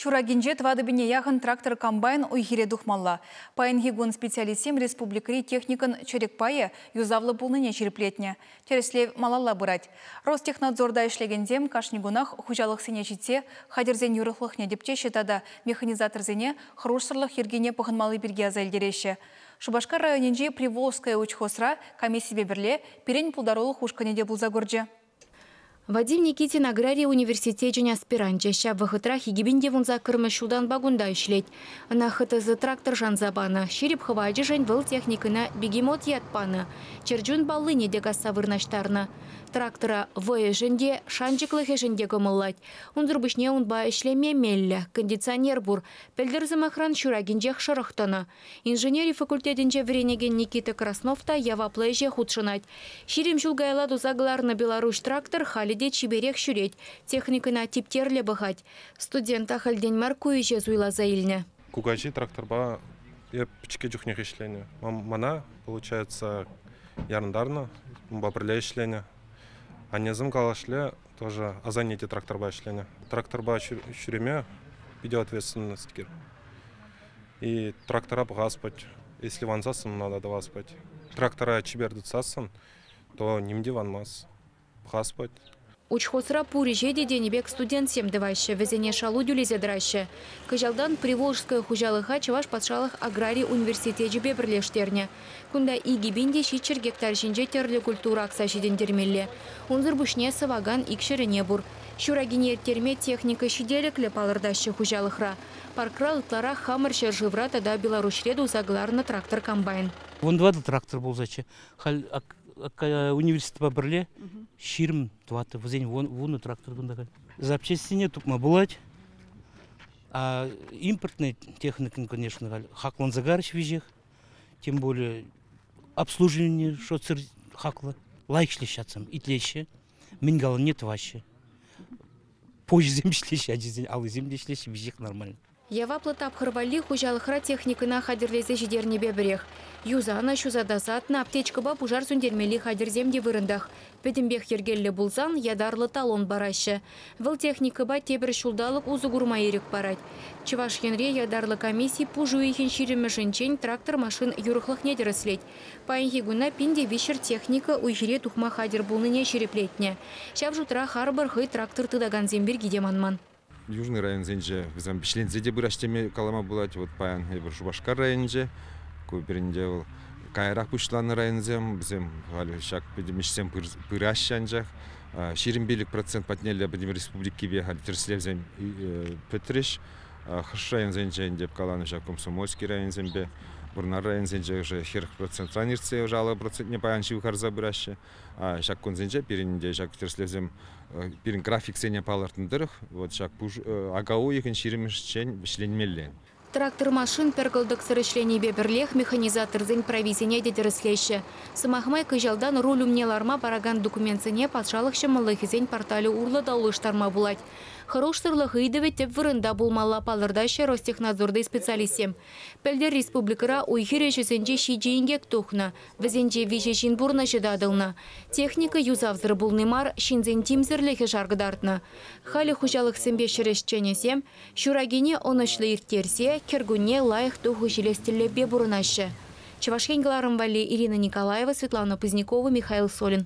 Ҫуракинче тӑватӑ-пине яхӑн трактор-комбайн уй-хире тухмалла. Паянхи кун специалистсем республикӑри техникӑн чӗрӗк пайӗ юсавлӑ пулнине ҫирӗплетнӗ. Тӗрӗслев малалла пырать. Ростехнадзорта ӗҫлекенсем кашни кунах хуҫалӑхсене ҫитсе хатӗрсен юрӑхлӑхне тӗпчеҫҫӗ тата механизаторсене хӑрушсӑрлӑх йӗркине пӑхӑнмалли пирки аса илтереҫҫӗ. Шупашкар районӗнчи Приволжское учхозра комиссипе пӗрле пирӗн пултарулӑх ушкӑнӗ те пулса курчӗ. Вадим Никитин аграри университечӗн аспиранчӗ. Ҫав вӑхӑтрах икӗпин те вун саккӑрмӗш ҫултанпа кунта ӗҫлет. Ӑна ХТЗ трактор шанса панӑ. Ҫирӗп хӑвачӗшӗн вӑл техникӑна бегемот ят панӑ. Чӗрчун паллине те касса вырнаҫтарнӑ. Трактора вӑйӗшӗн те, шанчӑклӑхӗшӗн те кӑмӑллать. Унсӑр пуҫне унпа ӗҫлеме меллӗ, кондиционер пур. Пӗлтӗр, сӑмахран, ҫуракинчех шӑрӑх тӑнӑ. Инженери факультетӗнче вӗренекен Никита Краснов та яваплӑ ӗҫе хутшӑнать. Ҫирӗм ҫул каялла туса кӑларнӑ Беларуҫ трактор халӗ те чиперех ҫӳрет, техникӑна типтерлӗ пӑхать. Студент ахальтен мар ку ӗҫе суйласа илнӗ. Кукаҫи тракторпа эп пӗчӗккӗ чухнех ӗҫленӗ. Мана, получается, ярӑнтарнӑ, унпа пӗрле ӗҫленӗ. Аннесем калашле, Тоже Азанете тракторпа ӗҫленӗ. Тракторпа ҫӳреме питӗ ответственность И трактора пӑхаспать. Если вансассӑн, надо тӑваспать. Трактора чипер тытсассӑн, то ним те ванмас. Пӑхаспать. Учхозра пур ӗҫе те тенӗ пек студентсем тӑваҫҫӗ, вӗсене шалу тӳлесе тӑраҫҫӗ. Кӑҫалтан Приволжское хуҫалӑха Чӑваш патшалӑх аграри университечӗпе пӗрлештернӗ. Кунта икӗ пин те ҫиччӗр гектар ҫинче тӗрлӗ культура акса ҫитӗнтермелле. Унсӑр пуҫне сӑвакан ик ҫӗрӗне пур. Ҫуракине ирттерме техника ҫителӗклӗ палӑртаҫҫӗ хуҫалӑхра. Паркра ытларах хамӑр ҫӗршывра тата Беларуҫре туса кӑларнӑ трактор-комбайн. Вунтӑватӑ трактор пулсаччӗ. Халь университетпа пӗрле ҫирӗм тӑваттӑ, вӗсен вунӑ трактор кунта халь. Запчастьсене тупма пулать. А импортный техникӑн, конечно, халь хакланса карӗҫ веҫех. тем более обслуживание шотсӑр хаклӑ лайӑх ӗҫлеҫҫӗ итлеҫҫӗ мӗн каланине тӑваҫҫӗ почӑсем ӗҫлеҫҫӗ ачисен аллисем те ӗҫлеҫҫӗ веҫех нормально яваплӑ тапхӑр валли хуҫалӑхра техникӑна хатӗрлесе ҫитернипе пӗрех юсанӑ, ҫуса тасатнӑ, аптечкӑпа пушар сӳнтермелли хатӗрсем те вырӑнтах. Пӗтӗмпех йӗркеллӗ пулсан ятарлӑ талон параҫҫӗ. Вӑл техникӑпа тепӗр ҫулталӑк усӑ курма ирӗк парать. Чӑваш Енре ятарлӑ комисси пуш уйӑхӗн ҫирӗммӗшӗнчен трактор-машин юрӑхлӑхне тӗрӗслет. Паянхи куна пин те виҫҫӗр техника уй-хире тухма хатӗр пулнине ҫирӗплетнӗ. Ҫав шутра харпӑр хӑй трактор тытакансем пирки те манман. Южный районсенче вӗсем вӗҫленсе те пыраҫ теме калама пулать. Вот паян эпир Шупашкар районӗнче, ку пирӗнте вӑл каярах пуҫланнӑ районсем. Вӗсем халӗ ҫак пӗтӗм ӗҫсем пыраҫҫӗ анчах. Ҫирӗм пилӗк процент патнелле пӗтӗм республикипе халь тӗрӗслевсем пӗтрӗҫ. Хӑш районсенче ӗнтӗ каланӑ ҫак комсомольски районсемпе. Вӑрнар районсенче ӑшӑ хӗр процентран иртсе ӑшӑ алӑ процентне паян ҫывхарса пыраҫҫӗ. Ҫак кунсенче пирӗн те ҫак тӗрӗслевсем пирӗн графиксене палӑртнӑ тӑрӑх вот ҫак ака уйӑхӗн ҫирӗмӗшчен вӗҫленмелле. Трактор-машин пӗр кӑлтӑксӑр ӗҫленипе пӗрлех механизаторсен прависене те тӗрӗслеҫҫӗ. Сӑмах май, кӑҫалтан руль умне ларма паракан документсене патшалӑх ҫӑмӑллӑхӗсен порталӗ урлӑ та улӑштарма пулать. Хӑрушсӑрлӑх ыйтӑвӗ тӗп вырӑнта пулмалла, палӑртаҫҫӗ Ростехнадзорти специалистсем. Пӗлтӗр республикӑра уй-хир ӗҫӗсенче ҫичӗ инкек тухнӑ. Вӗсенче виҫӗ ҫын пурнӑҫӗ татӑлнӑ. Техника юсавсӑр пулни мар, ҫынсен тимсӗрлӗхӗ шаркӑтартнӑ. Халӗ хуҫалӑхсемпе ҫӗр ӗҫченӗсем ҫуракине ӑнӑҫлӑ ирттерсе кӗркунне лайӑх тухӑҫ илес тӗллевпе пурӑнаҫҫӗ. Чӑваш Ен кӑларӑм валли Ирина Николаева, Светлана Пузникова, Михаил Солин.